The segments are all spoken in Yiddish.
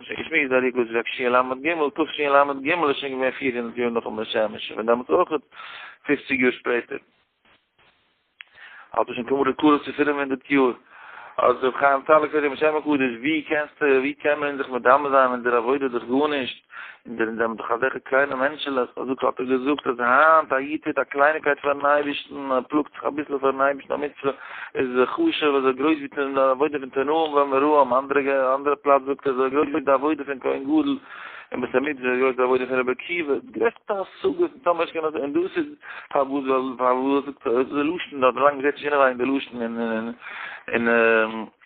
מ'האט שוין געשמועסט ביי ריגוז רב שי ל ג, תשי ל ג איז שוין געווען פֿיר הונדערט יאר נאכן בית שמש, און פון דעמאלטס אויך פֿופֿציק יאר שפעטער, האט עס שוין כמעט קרוב צו פֿינף הונדערט יאר, האט ר' חיים טאלעקער אים בשם הקדוש, ווי קענסטו, ווי קען מען זיך מדמה זיין אין דער עבודה דורך גארנישט? אינדערין זענען דאך אזעלכע קליינע מענטשעלעך, אזוי האט ער געזאגט אז היינט א איד טוט א קלייניקייט פארן אייבערשטן, ער פלאגט זיך אביסל פארן אייבערשטן, א מצוה איז חשוב אזוי גרויס ווי די עבודה פון תנאים ואמוראים, אנדערע פלאץ זאגט ער אזוי גרויס ווי די עבודה פון כהן גדול, און בית המקדש אזוי גרויס די עבודה פון רבי עקיבא, די גרעסטע השגות און טאמער נישט און דאס איז פארוואס ווייל ווייל דאס איז די לשון, דאס האט מען לאנג געזעט נישט אינעווייניג די לשון און און און און.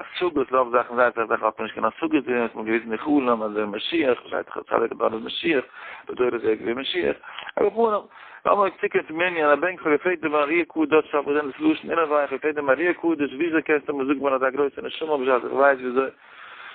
השגות רוב זאכן זייער אסאך זאכן האט מען נישט קיין השגות דערין האט מען געוויזן די חלום אז דער משיח שייך צו צדיק אדון דער משיח בדור הזה געווען משיח אבער פונעם לאמיר אויף צוקומען צום ענין א בנק פארפעלט די מאריא קדוש פאר וואס זענען דאס לשון אינעווייניג פארפעלט די מאריא קדוש וויאזוי קענסטו מיר זאגן מען האט א גרויסע נשמה בשעת איך ווייס וויאזוי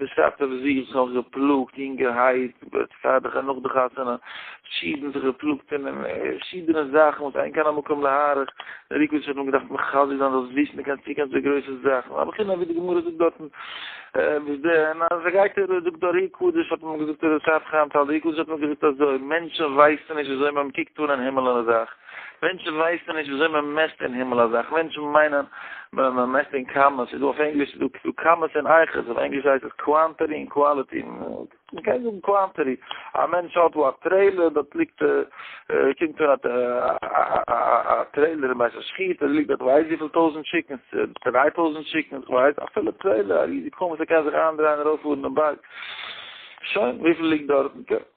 בשעתו וואס זי האט זיך נאך געפלאגט יונגערהייט בצעדיך און נאך די חתונה פשידען זיך געפלאגט אין פשידענע זאכן וואס אין קיין מקום להאריך דער ריקוויטש האט נאר געדארפט מחזק זיין זאלסט וויסן די קענסט צוקומען צו גרויסע זאכן אבער כינע ווי די גמרא זאגט דארטן וואס די און אז ער גייט ער זאגט דער ריקוויטש האט אים געזאגט דער צעדיך האט אים געזאגט דער ריקוויטש האט אים געזאגט אז די מענטשן ווייסן נישט וויאזוי מען קוקט אן אין הימל און אזאך מענטשן ווייסן נישט וויאזוי מען מעסט אין הימל א זאך, מענטשן מיינען מען מעסט אין קאמעס, ס'איז דא אויף ענגליש איז דא קאמעס און אייכעס, אויף ענגליש הייסט עס קוואנטעטי און קוואליטי, מ'קען זאגן קוואנטעטי, א מענטש האט וואו א טרעילער, דארט ליגט קומט אן א טרעילער אין בית השחיטה, דארט ליגט דארט ווייסט וויפיל טויזנט טשיקנס, דריי טויזנט טשיקנס, כ'ווייס, א פולע טרעילער, א ריזיגע קאמעס, ער קען זיך אריינדרייען ארויפפארן אין בארג, שוין, וויפיל ליגט דארטן?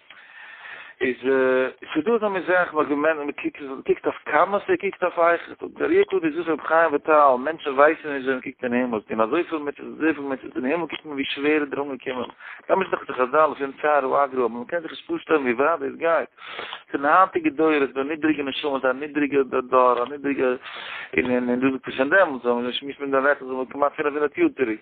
איז ס'איז דא אזא מין זאך וואס ווען מען קוקט מען קוקט אויף קאמאס ער קוקט אויף אייך דער איר טוט איז דאס רבי חיים וויטאל מענטשן ווייסן נישט ווען מען קוקט אין הימל און אזויפיל מיט אזויפיל מיט אין הימל קוקט מען ווי שווער איז דער אנגעקומען ממש דאכט זיך אז דאלף אין צער הוא אגרא אבער מען קען זיך נישט פארשטעלן ווי ווייט דאס גייט פון די היינטיגע דור איז דא נידריגע נשמות א נידריגע דור א נידריגע און און דאס איז פון דעמאלטס ווען מען שמועסט מיט דעם וועט עס זענען כמעט פינף הונדערט יאר צוריק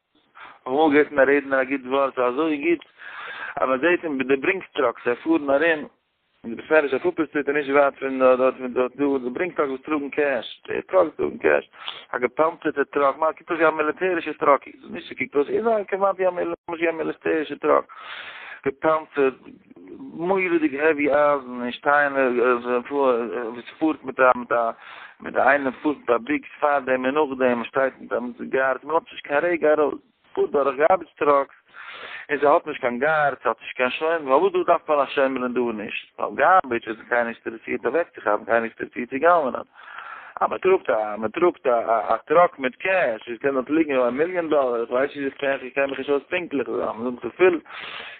כ'האב אמאל געהערט פון א רעדנער א גוט ווארט, ס'איז אזוי גוט אז מען זעט אים ביי די ברינג טראקס, זיי פארן ארום, און דו ביסט נעריש אויף אופער סטריט און נישט ווייט פון דארט, פון דארט דא די ברינג טראקס וואס טראגן קעש, די טראקס טראגן קעש, א געפאנצערטע טראק, מע קוקט אויס ווי א מיליטערישע טראק, איז נישט ס'קוקט אויס, איז א כמעט ווי א מיליטערישע טראק, געפאנצערט. מורא'דיג העווי אייזן און שטיינער וואס פארט מיט א מיט א מיט א איינער פארט מיט א ביקס פארדעם און נאכדעם שטייט מיט א מיט די גארדס מען לאזט נישט קיין רגע ארויס פארט דורך גארבידזש טראקס און זיי האט נישט קיין גארדס האט נישט קיין שומרים פארוואס דא דארף מען א שומרים און דא נישט ווייל גארבידזש איז קיינער נישט אינטערעסירט אוועקצוכאפן קיינער נישט אינטערעסירט צו גנב'נען. אז מען טראגט א מען טראגט א א טראק מיט קעש עס קען דארט ליגן א מיליאן דאלער איך ווייס נישט איך קען מיך נישט אויס פונקטליך זאל מען זאגן צופיל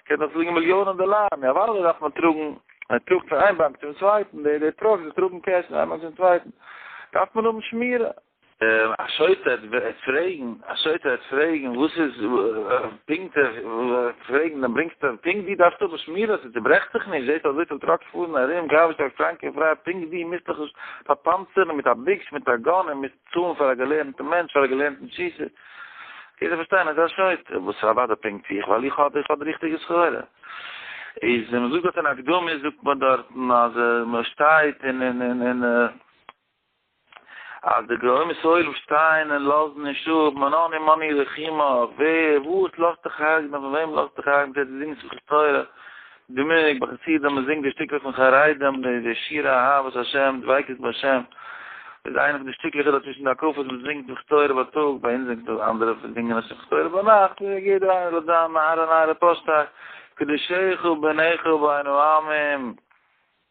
קען דארט ליגן מיליאנען דאלארן יא וואלא דארף מען טראגן מען טראגט פון איין באנק צום צווייטן די די טראקס וואס טראגן קעש פון איין באנק צום צווייטן דארף מען האבן שמירה א שוטה וועט פרעגן א שוטה וועט פרעגן וואס איז פונקט פרעגן דעם ברענגסטו פונקט די דארפסט האבן שמירה ס'צוברעכט זיך נישט זעהסט אזויפיל טראקס פארן ארום גארביטש א קראנקע פריי פונקט ווי מוזט דיך נישט פארפאנצערן מיט א ביקש מיט א גאן און מוזט צאלן פאר א געלערנטע מענטש פאר א געלערנטן שיסער קענסט דאך פארשטיין אז א שוטה וואס איז אוודאי פונקט ווי איך ווייל איך האב איך האב די ריכטיגע סחורה איז ווען מ'זאגט דארט אין הקדמה זאגט מען דארטן אז מ'שטייט און און און און. אז די גרוימע סוילען שטייען און לאזן נישט אפ, מנעני מני רחימה, ווער, וואס, לאזט דיך הרג'ן, און פון וועם לאזט דיך הרג'ן, זיי די זינגען שמחת תורה, די מנהג ביי חסידים, מען זינגט די שטיקלעך פון חרדים, די די שירי אהבת השם, דביקות בהשם, איז איינע פון די שטיקלעך איז צווישן די הקפות, מען זינגט שמחת תורה בייטאג, ביי אונז זינגט מען אנדערע זינגען עס שמחת תורה ביינאכט, יעדער איינער האט זיין נער און נערה פארשטייט, קדשיך וביניך ובין העמים.